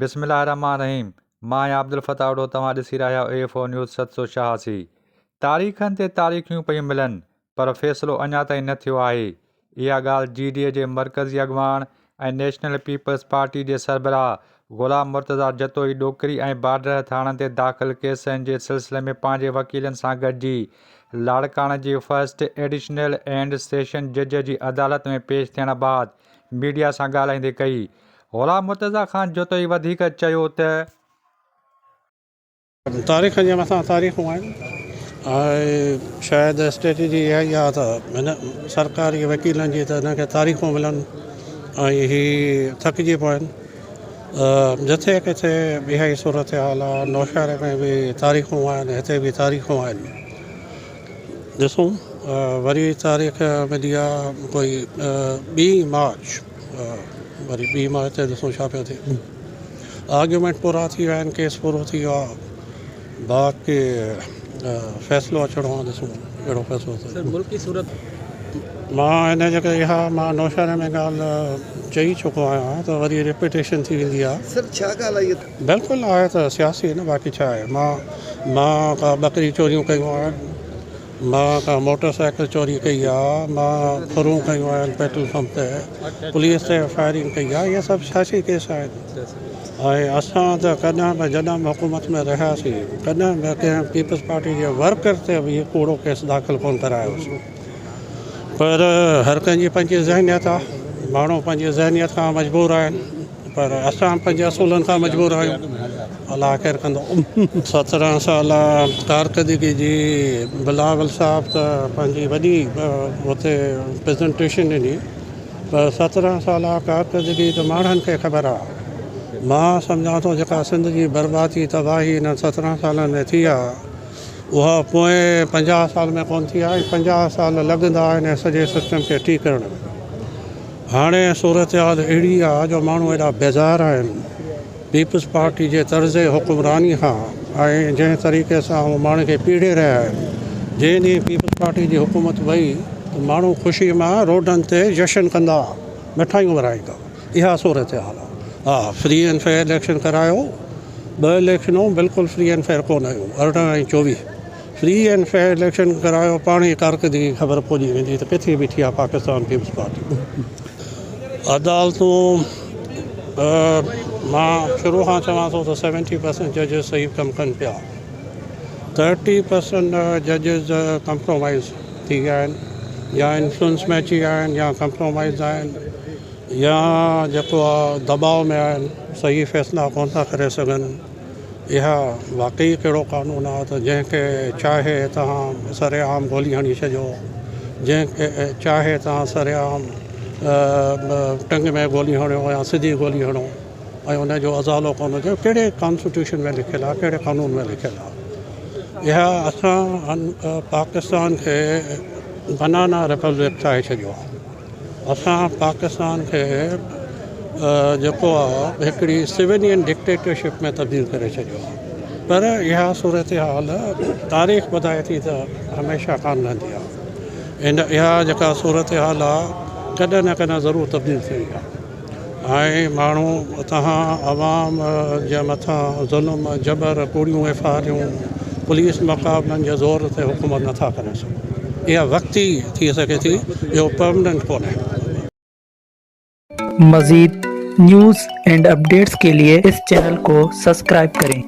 بسم الله الرحمٰن الرحيم مان آهيان عبدالفتاح اوڍو توهان ڏسي رهيا آهيو اي فور نيوز ست سو ڇهاسي تاريخن تي تاريخيون پيون ملن پر فيصلو اڃا تائين نه ٿيو آهي اها ڳالهه جي ڊي اي جي مرڪزي اڳواڻ ۽ نيشنل پيپلز پارٽي جي سربراهه غلام مرتضيٰ جتوئي ڏوڪري ۽ بارڊر ٿاڻن تي داخل ڪيسن جي سلسلي ۾ پنهنجي وڪيلن سان گڏجي لاڙڪاڻه جي فرسٽ ايڊيشنل اينڊ سيشن جج جي عدالت ۾ پيش ٿيڻ بعد ميڊيا سان ڳالهائيندي ڪئي. غلام مرتضيٰ خان جتوئي وڌيڪ چيو ته. تاريخ جي مٿان تاريخون آهن ۽ شايد اسٽريٽجي اها ئي آهي ته هن سرڪاري وڪيلن جي ته هن کي تاريخون ملن ۽ هي ٿڪجي پون جٿي ڪٿي به اها ئي صورت حال آهي نوشهري ۾ به تاريخون آهن هتي به تاريخون آهن ڏسون وري تاريخ ملي آهي ڪوئي ٻي مارچ وري ٻي مارچ تي ڏسون ڇا پيو ٿئي آرگيومينٽ پورا ٿي ويا آهن ڪيس پورو ٿي ويو آهي باقي فيصلو اچڻو آهي ڏسون ڪهڙو فيصلو ٿئي سر ملڪي صورت مان هن جي ڪري اها مان نوشهري ۾ ڳالهه چئي چڪو آهيان ته وري ريپيٽيشن ٿي ويندي آهي سر ڇا ڳالهه آهي اها بلڪل آهي ته سياسي نه باقي ڇا آهي مان مان ڪا ٻڪري چوريون ڪيون آهن مان ڪا موٽر سائيڪل چوري ڪئي آ مان ڦرون کنيون آهن پيٽرول پمپ تي پوليس تي فائرنگ ڪئي آ اهي سڀ سياسي ڪيس آهن ۽ اسان ته ڪڏهن به جڏهن به حڪومت ۾ رهياسين ڪڏهن به ڪنهن پيپلز پارٽي جي ورڪر تي به اهو ڪوڙو ڪيس داخل ڪون ڪرايوسون پر هر ڪنهن جي پنهنجي ذهنيت آ ماڻهو پنهنجي ذهنيت کان مجبور آهن پر اسان پنهنجي اصولن سان مجبور آهيون الله خير ڪندو. سترهن سال ڪارڪردگي جي بلاول صاحب ته پنهنجي وڏي اتي پريزنٽيشن ڏني پر سترهن سال ڪارڪردگي ته ماڻهن کي خبر آ مان سمجهان ٿو جيڪا سنڌ جي بربادي تباهي انهن سترهن سالن ۾ ٿي آ اها پوئين پنجاهه سال ۾ ڪونه ٿي آهي، پنجاهه سال لڳندا آهن هن سڄي سسٽم کي ٺيڪ ڪرڻ ۾. هاڻي صورتحال اهڙي آ جو ماڻهو ايڏا بيزار آهن پيپلز پارٽي جي طرز حڪمراني کان ۽ جنهن طريقي سان هو ماڻهن کي پيڙي رهيا آهن. جنهن ڏينهن پيپلز پارٽي جي حڪومت وئي ته ماڻهو خوشي مان روڊن تي جشن ڪندا، مٺايون ورهائيندا. اها صورتحال آ. ها فري اينڊ فيئر اليڪشن ڪرايو. ٻه اليڪشنون بلڪل فري اينڊ فيئر ڪونه هيون ارڙهن ۽ چوويهه فري اينڊ فيئر اليڪشن ڪرايو پاڻ ئي ڪارڪردگي کي خبر پوجي ويندي ته ڪٿي بيٺي آهي پاڪستان پيپلز پارٽي عدالتون مان شروع کان چوان ٿو ته سيونٽي پرسنٽ ججز صحيح ڪم ڪن پيا ٿرٽي پرسنٽ ججز ڪمپرومائز ٿي ويا آهن يا انفلوئنس ۾ اچي ويا آهن يا ڪمپرومائز آهن يا جيڪو دٻاء ۾ آهن صحيح فيصلا ڪونه ٿا ڪري سگهن اها واقعي ڪهڙو قانون آهي ته جنهن کي چاهي تهان سرعام گولي هڻي ڇڏيو جنهن کي چاهي تهان سرعام ٽنگ ۾ گولي هڻيو يا سڌي گولي هڻو ۽ ان جو ازالو ڪونه هجي ڪهڙي ڪانسٽيٽيوشن ۾ لکيل آهي ڪهڙي قانون ۾ لکيل آهي اها اسان پاڪستان کي بنانا ريپبلڪ ٺاهي ڇڏيو اسان پاڪستان کي جيڪو آ هڪڙي سويلين ڊڪٽيٽرشپ ۾ تبديل ڪري ڇڏيو آ پر اها صورتحال تاريخ ٻڌائي ٿي ته هميشه ڪانه رهندي آ اها جيڪا صورتحال آ ڪڏهن نه ڪڏهن ضرور تبديل ٿيڻي آ. ۽ ماڻهو اتان عوام جي مٿان ظلم جبر ڪوڙيون ايف آء آريون پوليس مقابلن جي زور تي حڪومت نٿا ڪري سگهن اها وقتي ٿي سگهي ٿي اهو پرمننٽ ڪونهي. مزيد نيوز اينڊ اپڊيٽس ڪي لئي اس چينل ڪو سسڪرائب ڪرين.